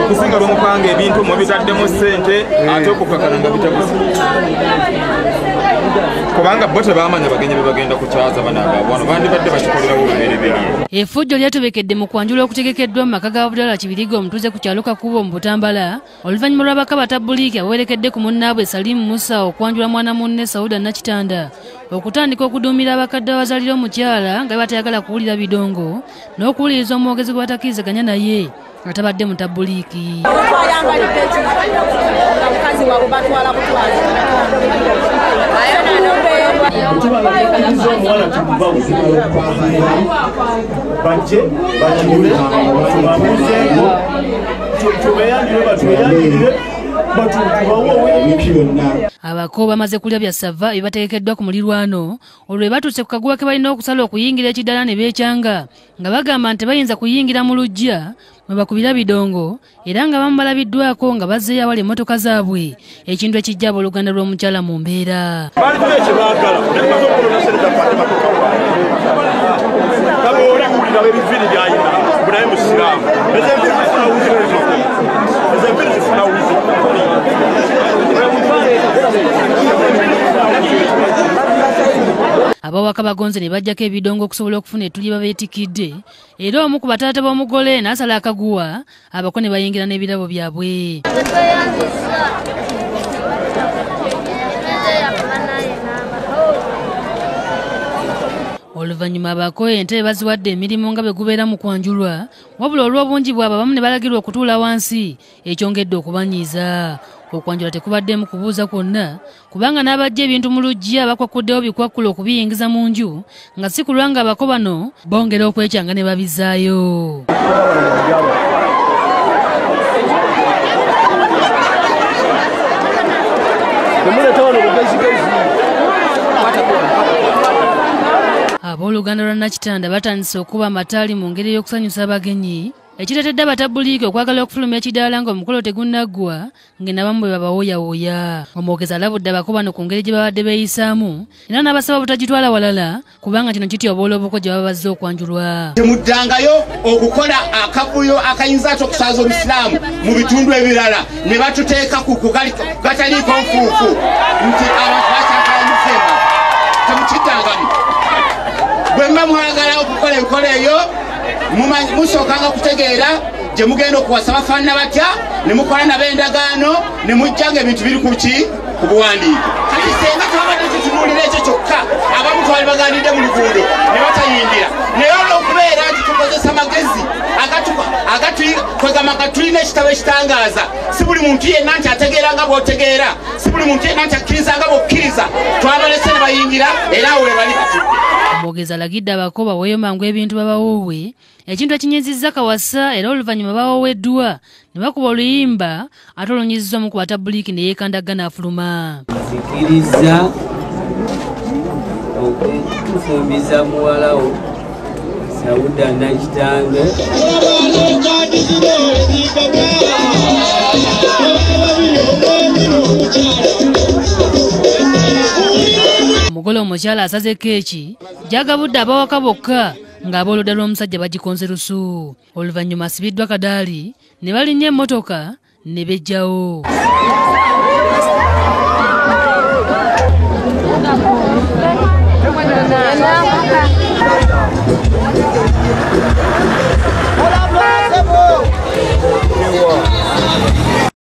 okusinga lwemupanga ebintu mubitaddemu ssente eh. ate okukakana nga bitabuzi kubanga bo tebamanya bagenyi bebagenda kukyaza banagabwano bandibadde bakikolerawo lubereberye efujjo lyatobekedde mu kwanjula okutegekeddwa mu maka ga budala kibiriga omutuuze ku kyalo kakubo mu butambala oluvannyuma lw'abaka batabuliiki abawerekedde ku munnaabwe salimu musa okwanjula mwana munne sauda nakitanda okutandika okuduumira abakadde abazalira omukyala nga batayagala kuwulira bidongo n'okuwuliriza omwogezi gwe batakirizaganya naye nga tabadde mutabuliiki bajje bakigule babuzeeko tubeyanire batubeyanirire abako bamaze kulya bya sava ebibategekeddwa ku mulirwano olwo batuuse ku kaguwa ke balina okusala okuyingira ekiddala ne beekyanga nga bagamba nti bayinza kuyingira mu lujja mwe bakubira bidongo era nga bamu balabiddwako nga bazzeeyo awali emmotoka zaabwe ekintu ekijja abooluganda lw'omukyala mu mbeera abawaka bagonze ne bajjako ebidongo okusobola okufuna etuli babeetikidde era omu ku bataata b'omugole n'asala akaguwa abako ne bayingira n'ebirabo byabwe oluvannyuma abako entebe baziwadde emirimu nga bwe gubeera mu kwanjulwa wabula olw'obungi bwabo abamu ne balagirwa okutuula wansi ekyongedde okubanyiiza okwanjula tekubaddemu kubuuza kwonna kubanga n'abajja ebintu mu luggi abakwakuddewo bikwakkulo okubiyingiza mu nju nga si kulwa nga abako bano bongera okwekyanga ne babizaayo abooluganda lwa nakitanda batandise okuba amataali mu ngeri ey'okusanyusa abagenyi ekireetedde abatabbuliiki okwagala okufuluma ekidaala ng'omukolo tegunnaggwa ng'enabamu bwe babawooyawooya omwogezi alabudde abako bano ku ngeri gye babadde beeyisaamu era n'abasaba obutagitwala walala kubanga kino kityoboola obuko gye baba bazze okwanjulwa temuddangayo okukola akavuyo akayinza ate okusaaza obusiraamu mu bitundu ebirala ne batuteeka ku kugataliiko nfuufu nti abantu bakyakalanyisemba temukitangamu bwe mba mwagala okukola enkola eyo musookanga kutegeera gye mugenda okuwasa bafaanana batya ne mukola nabo endagaano ne mujjanga ebintu biri ku ki ku buwandiike kati senga twabadde tutunuulira ekyo kyokka abamu twali baganidde mu luguudo ne batayingira naye olwokubeera nti tukozesa magezi kwegamba nga tulina ekitabo ekitangaaza si buli muntu yenna nti ategeera nga bwotegeera si buli muntu yenna nti akkiriza nga bwokkiriza twabalese ne bayingira era awo webali batudde omwogezi alagidde abako baweeyo mangu ebintu babawoowe ekintu ekinyizizza kawasa era oluvannyuma bawoweddwa ne bakuba oluyimba ate olunyiziza omu ku batabuliiki ne yeekandagga n'afuluma kikirizza okufumbiza muwalawo sauda nakitange omugole omukyala asaze keeki gyagabudde abawaka bokka ng'abooludda lw'omusajja bagikonze lusu oluvannyuma asibiddwa kadaali ne balinnya emmotoka ne bejjawo